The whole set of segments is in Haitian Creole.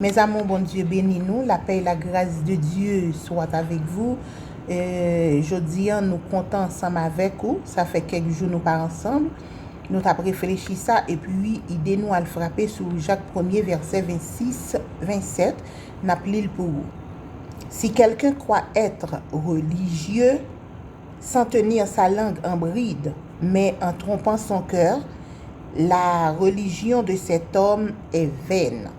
Mes amours Bondye beni nou la paix et la grâce de Dieu soit avec vous Jodi an nou kontan ansanm avèk ou sa fè kèk jou nou pa ansanm nou tap reflechi sa epi ide nou al frape sou Jak premye vèsè 26 27 nap lil pou ou Si quelqu'un croit être religieux sans tenir sa langue en bride mais en trompant son cœur la religion de cet homme est vaine.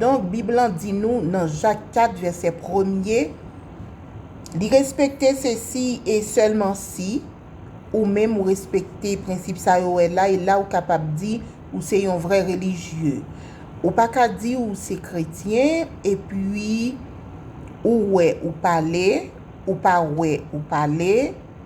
Donk, Bib lan di nou nan Jak 4 vèsè premye, Li respekte se si e sèlman si ou menm ou respekte prensip sa yo wè la e la ou kapab di ou se yon vrè relijye. Ou pa ka di ou se kretyen epi ou wè ou pale, ou pa wè ou pale,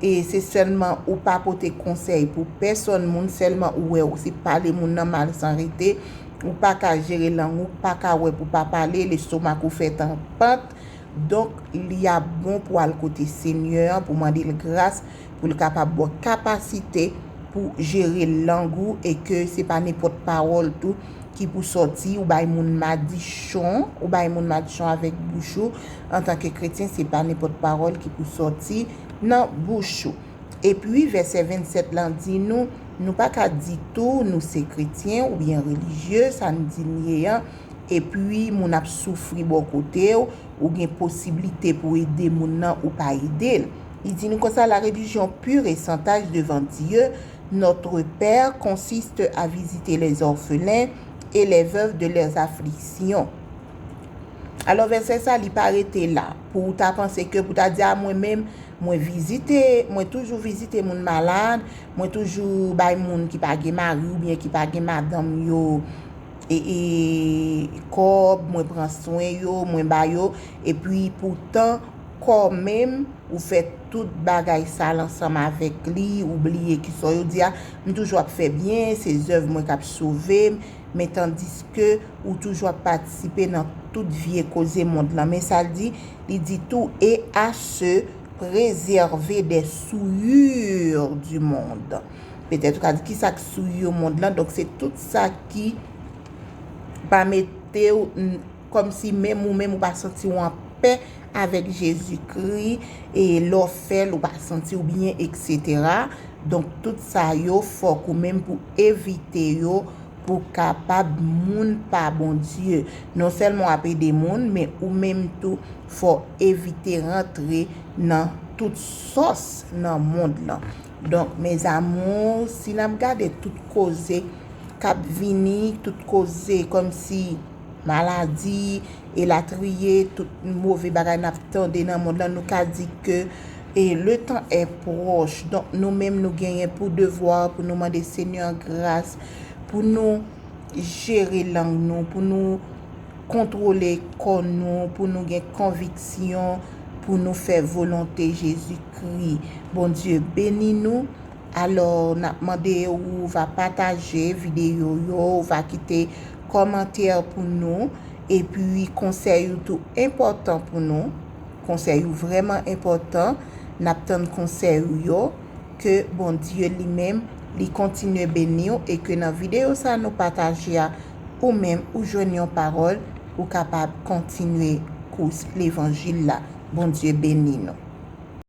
e se sèlman ou pa pote konsèy pou pèsòn moun sèlman ou wè ou se pale moun nan mal san rete ou paka jere lang ou paka wè pou pa pale lestomak ou fèt an pant donk li ap bon pou al kote senyè an pou mande l gras pou l kapab baw kapasite pou jere lang ou e ke se pa nenpòt pawòl tou ki pou sòti ou bay moun madichon ou bay moun madichon avèk bouch ou antanke kretyen se pa nenpòt pawòl ki pou sòti. Nan bouch ou. Epi, vèsè 27 lan di nou, nou pa ka di tou, nou se kretyen oubyen relijye, sa n di n ye an, epi moun ap soufri bò kote w, ou gen posiblite pou ede moun nan ou pa ede l. Li di nou konsa, La religion pure et sans tache devant Dieu, notre Père, consiste à visiter les orphelins et les veuves de leurs afflictions. Alò vèsè sa li pa rete la. pou ou ta panse ke pou ta di a mwen menm mwen vizite, mwen toujou vizite moun malad, mwen toujou bay moun ki pa gen mari ou byen ki pa gen madanm yo e kòb, mwen pran swen yo, mwen ba yo, e pi pou tan kò menm ou fè tout bagay sal ansanm avèk li, ou bliye ki sa yo di a, m toujou ap fè byen, se zèv mwen k ap sove m, men tandiske ou toujou ap patisipe nan tout vye koze mond lan. Men sa l di, li di tou e a se prezève dè souyir di mond. Petèt ou ka di kisa k souyir mond lan, donk se tout sa ki pa mete ou. Kòmsi menm ou menm ou pa santi ou anpè avèk Jezikri e lè w fè l ou pa santi w byen eksetera. Donk tout sa yo fòk ou menm pou evite yo pou w kapab moun pa Bondye. Non sèlman w ap ede moun men ou menm tou fò w evite rantre nan tout sòs nan mond lan. Donk mes amours si n ap gade tout koze k ap vini, tout koze kòmsi. maladi, elatriye, tout move bagay nap tande nan mond lan, nou ka di ke le tan è pwòch, donk nou menm nou genyen pou devwa pou nou mande Senyè an gras, pou nou jere lang nou, pou nou kontwole kò nou, pou nou gen konviksyon, pou nou fè volonte Jezi Kri. Bondye beni nou. Alò nap mande ou va pataje video yo ou va kite kòmantè pou nou epi konsèy ou tou enpòtan pou nou konsèy ou vrèman enpòtan nap tann konsèy ou yo ke Bondye li menm li kontinye beniw e ke nan video sa nou pataje a ou menm ou jwenn yon pawòl ou kapab kontinye kous levanjil la Bondye beni nou.